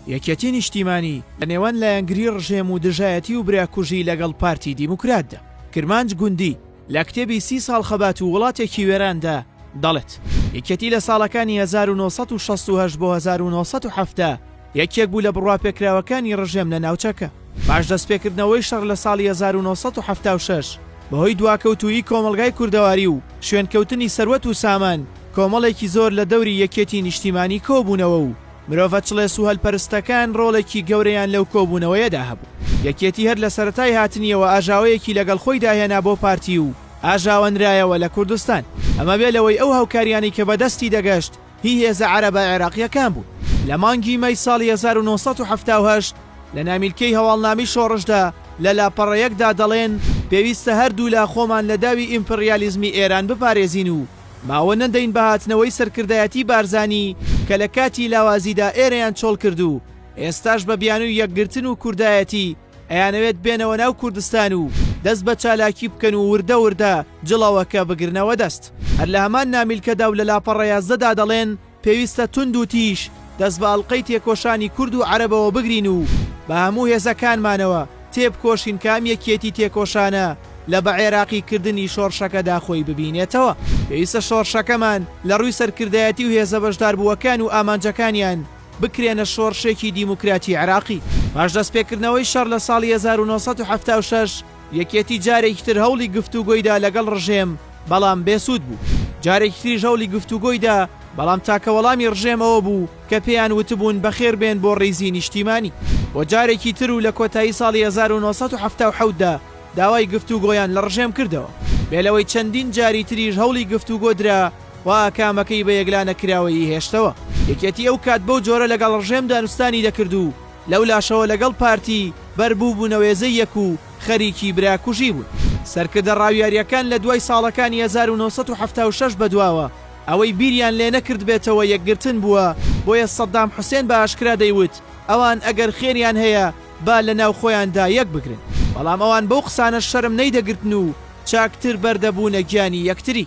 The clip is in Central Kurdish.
یەکێتی نیشتیمانی لە نێوان لایەنگری ڕژێم و دژایەتی و براکوژی لەگەڵ پارتی دیموکراتدا. کرمانج گوندی لە کتێبی سی ساڵ خەبات و وڵاتێکی وێراندا دەڵێت، یەکێتی لە ساڵەکانی هەزار و نۆ سەد و شەست و هەشت بۆ هەزار و نۆ سەد و حەفتا یەکێک بوو لە بڕواپێکراوەکانی ڕژێم لە ناوچەکە. پاش دەستپێکردنەوەی شەڕ لە ساڵی هەزار و نۆ سەد و حەفتا و شەش بەهۆی دواکەوتوویی کۆمەڵگای کوردەواری و شوێنکەوتنی سەروەت و سامان، کۆمەڵێکی زۆر لە دەوری یەکێتی نیشتیمانی کۆبوونەوە و، مرۆڤە چڵێس و هەلپەرستەکان ڕۆڵێکی گەورەیان لەو کۆبوونەوەیەدا هەبوو. یەکێتی هەر لە سەرەتای هاتنییەوە ئاژاوەیەکی لەگەڵ خۆیدا هێنا بۆ پارتی و ئاژاوەنرایەوە لە کوردستان. ئەمە بێ لەوەی ئەو هاوکارییانەی کە بە دەستی دەگەشت هی هێزە عەرەبە عێراقییەکان بوون. لە مانگی مەی ساڵی هەزار و نۆ سەد و حەفتا و هەشت لە نامیلکەی هەواڵنامی شۆڕشدا لە لاپەڕەیەکدا دەڵێن، پێویستە هەردوولا خۆمان لە داوی ئیمپریالیزمی ئێران بپارێزین و، ماوە نەدەین بە هاتنەوەی سەرکردایەتی بارزانی کە لە کاتی لاوازیدا ئێرەیان چۆڵ کرد و ئێستاش بە بیانوی یەکگرتن و کوردایەتی ئەیانەوێت بێنەوە ناو کوردستان و دەست بە چالاکی بکەن و وردە وردە جڵەوەکە بگرنەوە دەست. هەر لە هەمان نامیلکەدا و لە لاپەڕە یازدەدا دەڵێن، پێویستە توند و تیژ دەست بە ئەڵقەی تێکۆشانی کورد و عەرەبەوە بگرین و بە هەموو هێزەکانمانەوە تێبکۆشین کە ئەم یەکیەتی تێکۆشانە لە بە عێراقی کردنی شۆڕشەکەدا خۆی ببینێتەوە. پێویستە شۆڕشەکەمان لە ڕووی سەرکردایەتی و هێزە بەشداربووەکان و ئامانجەکانیان بکرێنە شۆڕشێکی دیموکراتی عێراقی. پاش دەستپێکردنەوەی شەڕ لە ساڵی هەزار و نۆ سەد و حەفتا و شەش، یەکێتی جارێکی تر هەوڵی گفتوگۆیدا لەگەڵ ڕژێم، بەڵام بێ سوود بوو. جارێکی تریش هەوڵی گفتوگۆیدا، بەڵام تاکە وەڵامی ڕژێم ئەوە بوو کە پێیان وتبوون بەخێر بێن بۆ ڕیزی نیشتیمانی. بۆ جارێکی تر و لە کۆتایی ساڵی هەزار و نۆ سەد و حەفتا و حەوت دا داوای گفتوگۆیان لە ڕژێم کردەوە. بێ لەوەی چەندین جاری تریش هەوڵی گفتوگۆ درا، خوا ئاکامەکەی بە یەکلانەکراوەیی هێشتەوە. یەکێتی ئەو کات بەو جۆرە لەگەڵ ڕژێم دانوستانی دەکرد و، لەولاشەوە لەگەڵ پارتی بەر بووبوونە وێزەی یەک و خەریکی برا کوژی بوون. سەرکردە ڕاویاریەکان لە دوای ساڵەکانی هەزار و نۆ سەد و حەفتا و شەش بەدواوە ئەوەی بیریان لێ نەکردبێتەوە یەکگرتن بووە بۆیە سەدام حوسێن بە ئاشکرا دەیوت ئەوان ئەگەر خێریان هەیە با لە ناو خۆیان دا یەک بگرن بەڵام ئەوان بەو قسانەش شەرم نەیدەگرتن و چاکتر بەر دەبوونە گیانی یەکتری.